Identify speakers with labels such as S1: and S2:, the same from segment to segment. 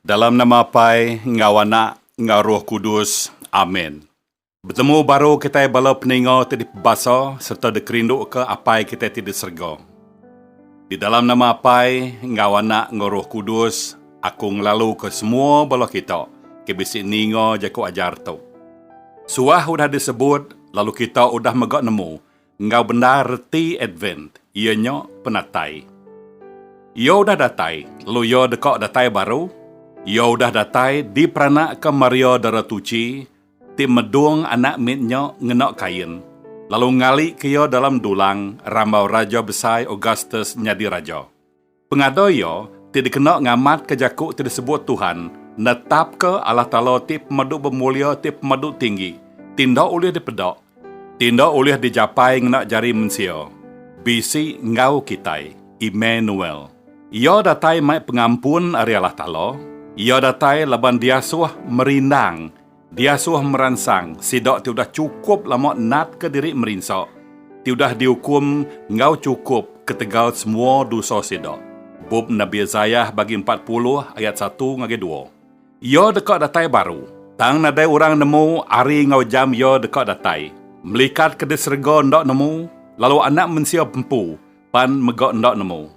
S1: Dalam nama Apai enggau Anak enggau Roh Kudus. Amin. Betemu baru kitai bala peninga ti dipebasa sereta dikerinduka Apai kitai ti di serega. Di dalam nama Apai enggau Anak enggau Roh Kudus aku ngelaluka semua bala kita ke bisi ninga jaku ajar tu. Suah udah disebut lalu kita udah mega nemu enggau bendar reti Advent, iya nya penatai. Iya udah datai, lalu Iya deka datai baru. Iya udah datai diperanakka Maria Dara Tuchi ti medung anak mit nya ngena kain, lalu ngalika iya dalam dulang rambau Raja Besai Augustus nyadi raja. Pengada iya ti dikena ngamatka jaku ti disebut Tuhan netapka Allah Taala ti pemadu bemulia ti pemadu tinggi, ti enda ulih dipeda, ti enda ulih dijapai ngena jari mensia, bisi enggau kitai, Immanuel. Iya datai mai pengampun ari Allah Taala, iya datai laban diasuh merindang Diasuh meransang sida ti udah chukup lama natka diri merinsa, ti udah diukum enggau chukup ketegal semua dosa sida. Bup Nabi Isaiah bagi empat puluh ayat satu ngagai dua. Iya deka datai baru, tang nadai orang nemu ari enggau jam Iya deka datai. Melikat ke di serega enda nemu, lalu Anak Mensia empu, Pan mega enda nemu.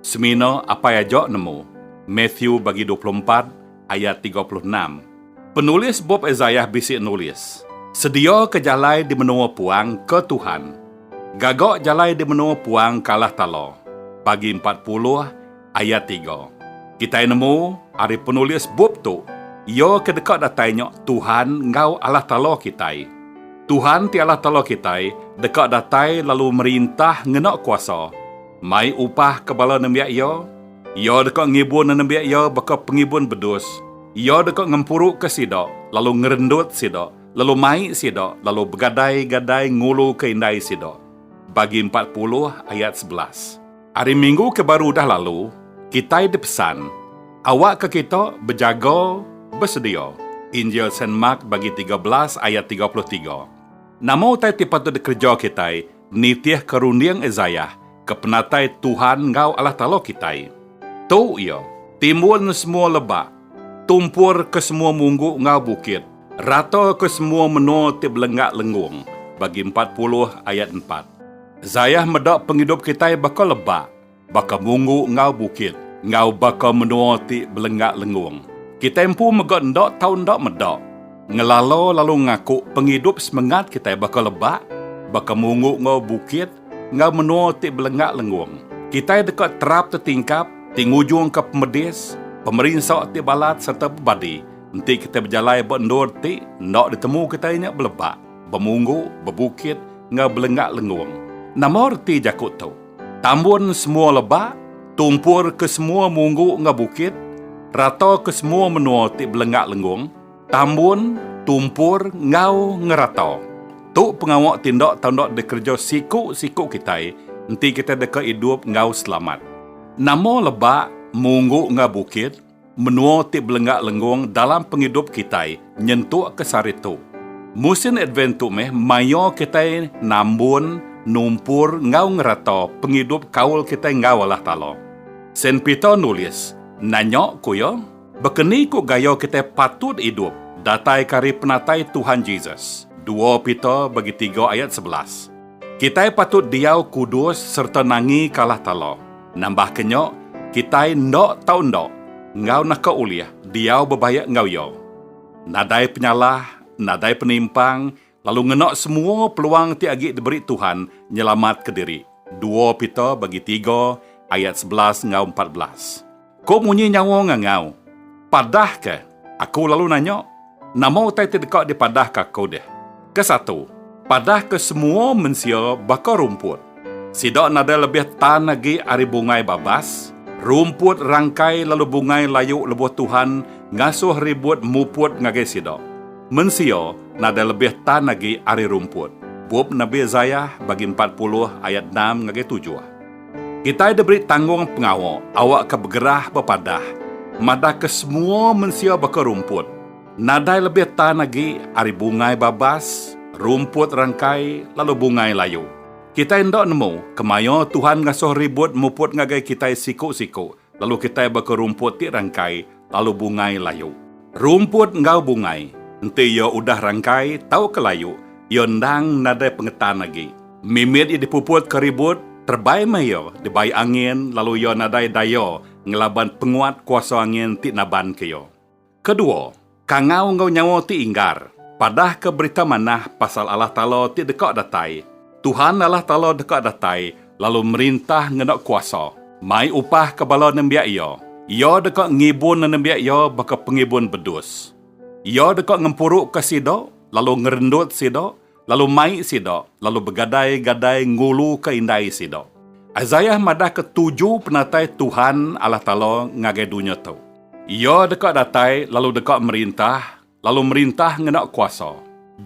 S1: Semina apai aja nemu. Matthew bagi dua puluh empat ayat tiga puluh enam. Penulis bup Isaiah bisi nulis, Sediaka jalai di menua puang ke Tuhan. Gaga jalai di menua puang kalah tala. Pagi empat puluh. Ayat tiga. Kitai nemu ari penulis bup tu, iya ke deka datai nya Tuhan enggau Allah Taala kitai. Tuhan ti Allah Taala kitai deka datai lalu merintah ngena kuasa, mai upah ke bala nembiak Iya. Iya deka ngibun nembiak Iya baka pengibun bedus. Iya deka ngempuruka sida, lalu ngerendut sida, lalu mai sida lalu begadai-gadai nguluka indai sida. Bagi empat puluh ayat sebelas. Ari minggu ke baru udah lalu, kitai dipesan, Awakka kita bejaga, besedia. Injil Saint Mark bagi tiga belas ayat tiga puluh tiga. Nama utai ti patut dikereja kitai nitihka runding Isaiah ke penatai Tuhan enggau Allah Taala kitai? Tu iya, Timbuln semua lebak, tumpurka semua munggu enggau bukit, rataka semua menua ti belenggak lenggung, bagi empat puluh ayat empat. Zayah meda pengidup kitai baka leba, baka munggu enggau bukit, enggau baka menua ti belenggak lengung. Kitai empu mega enda tau enda meda, ngelala lalu ngaku pengidup semengat kitai baka leba, baka munggu enggau bukit, enggau menua ti belenggak lengung. Kitai deka terap tetingkap ti ngujungka pemedis, pemerinsa ti balat sereta bebadi enti kitai bejalai ba endur ti enda ditemu kitai nya beleba. Bemunggu, bebukit, enggau belenggak lenggong. Nama reti jaku tu? Tambun semua lebak, tumpur ke semua munggu enggau bukit, rata ke semua menua ti belenggak lenggong, tambun, tumpur, enggau ngerata. Tu pengawa ti enda tau enda dikereja siku-siku kitai enti kitai deka idup enggau selamat. Nama lebak, munggu enggau bukit? Menua ti belengga lenggong dalam pengidup kitai nyentukka sari tu. Musin Advent tu meh maia kitai nambun, numpur enggau ngereta pengidup kaul kitai enggau Allah Taala. Saint Peter nulis, Nanya ku iya, baka ni ku gaya kitai patut idup dataika ari penatai Tuhan Jesus? Dua Peter bagi tiga ayat sebelas. Kitai patut diau kudus sereta nangi kalah tala. Nambahka nya, kitai enda tau enda enggau naka ulih diau bebaik enggau iya. Nadai penyalah, nadai penimpang, lalu ngena semua peluang ti agi diberi Tuhan nyelamatka diri, dua Peter bagi tiga ayat sebelas enggau empat belas. Ko munyi nyawa ngangau. Padah ke. Aku lalu nanya, nama utai ti deka dipadah ke aku deh. Ke satu, padah ke semua mensia baka rumput. Sida nadai lebih tan agi ari bungai babas, rumput rangkai lalu bungai layu lebuh Tuhan ngasuh ribut muput ngagai sida. Mensia nadai lebih tan agi ari rumput. Bup Nabi Isaiah bagi empat puluh ayat enam ngagai tujuh. Kitai diberi tanggung pengawa awakka begerah bepadah madahka semua mensia baka rumput, nadai lebih tan agi ari bungai babas, rumput rangkai, lalu bungai layu. Kitai enda nemu kemaya Tuhan ngasuh ribut muput ngagai kitai siku-siku Lalu kitai baka rumput ti rangkai lalu bungai layu. Rumput enggau bungai enti iya udah rangkai tauka layu, iya endang nadai pengetan agi. Mimit iya dipuput ke ribut, terebai meh iya dibai angin lalu iya nadai daya ngelaban penguat kuasa angin ti nabanka iya. Kedua, kangau enggau nyawa ti inggar. Padahka Berita Manah pasal Allah Taala ti deka datai. Tuhan Allah Taala deka datai lalu merintah ngena kuasa, mai upah ke bala nembiak Iya. Iya deka ngibun nenembiak Iya baka pengibun bedus. Iya deka ngempuruka sida lalu ngerendut sida lalu mai sida lalu begadai-gadai nguluka indai sida. Isaiah madahka tuju penatai Tuhan Allah Taala ngagai dunya tu. Iya deka datai lalu deka merintah, lalu merintah ngena kuasa.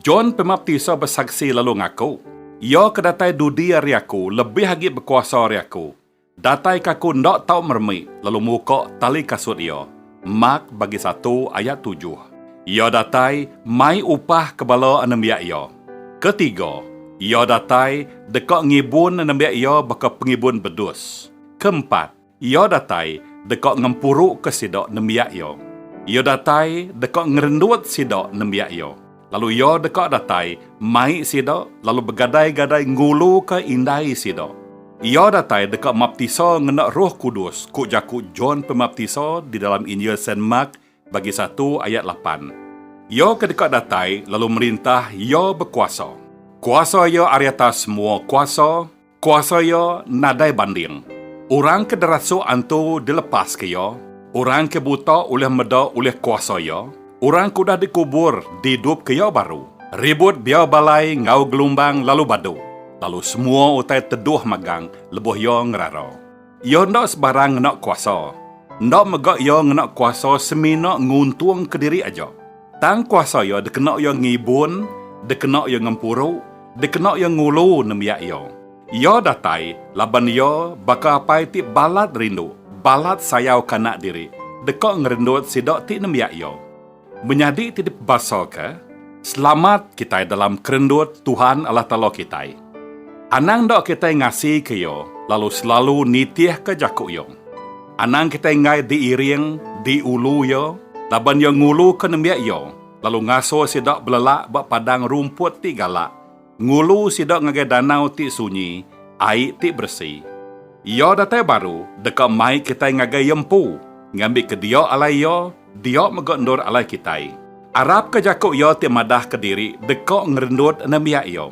S1: John Pemaptisa besaksi lalu ngaku, Iya ke datai dudi ari aku lebih agi bekuasa ari aku, Datai ke aku enda tau meremi lalu muka tali kasut iya. Mak bagi satu ayat tujuh. Iya datai mai upah ke bala anembiak iya. Ketiga, iya datai deka ngibun anembiak iya baka pengibun bedus. Keempat, iya datai deka ngempuruka sida nembiak iya. Iya datai deka ngerendut sida nembiak iya. Lalu iya deka datai mai sida lalu begadai-gadai nguluka indai sida. Iya datai deka maptisa ngena Roh Kudus, ku jaku John Pemaptisa di dalam Injil Saint Mark bagi satu ayat lapan. Iya ke deka datai lalu merintah iya bekuasa. Kuasa iya ari atas semua kuasa. Kuasa Iya nadai banding. Orang ke derasuk antu dilepaska Iya. Orang ke buta ulih meda ulih kuasa Iya. Orang ke udah dikubur diidupka Iya baru. Ribut biau balai enggau gelumbang lalu badu, lalu semua utai teduh magang lebuh Iya ngerara. Iya enda sebarang ngena kuasa. Enda mega iya ngena kuasa semina nguntungka diri aja. Tang kuasa iya dikena iya ngibun, dikena iya ngempuru, dikena iya ngulu nembiak iya. Iya datai laban iya baka apai ti balat rindu, balat sayau kanak diri, deka ngerendut sida ti nembiak iya. Menyadi ti dipebasaka, selamat kitai dalam kerendut Tuhan Allah Taala kitai. Anang enda kitai ngasika Iya lalu selalu nitihka jaku Iya. Anang kitai enggai diiring, diulu Iya, laban Iya nguluka nembiak Iya lalu ngasuh sida belelak ba padang rumput ti galak, Ngulu sida ngagai danau ti sunyi, ai ti beresi. Iya datai baru deka mai kitai ngagai Iya empu, ngambika dia alai Iya, dia mega endur alai kitai. Arapka jaku iya ti madahka diri deka ngerendut nembiak iya.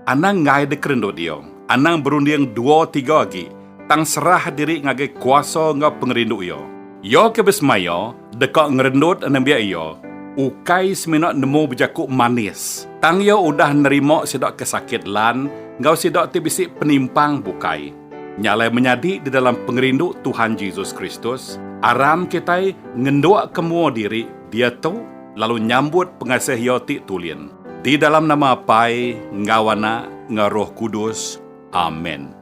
S1: Anang enggai dikerendut iya, anang berunding dua tiga agi, tang serah diri ngagai kuasa enggau pengerindu iya. Iya ke besemaya Deka ngerendut nembiak iya ukai semina nemu bejaku manis, tang iya udah nerima sida ke sakit lan enggau sida ti bisi penimpang bukai. Nya alai menyadi di dalam pengerindu Tuhan Jesus Kristus, aram kitai ngendukka mua diri diatu lalu nyambut pengasih Iya ti tulin. Di dalam nama Apai enggau Anak enggau Roh Kudus. Amen.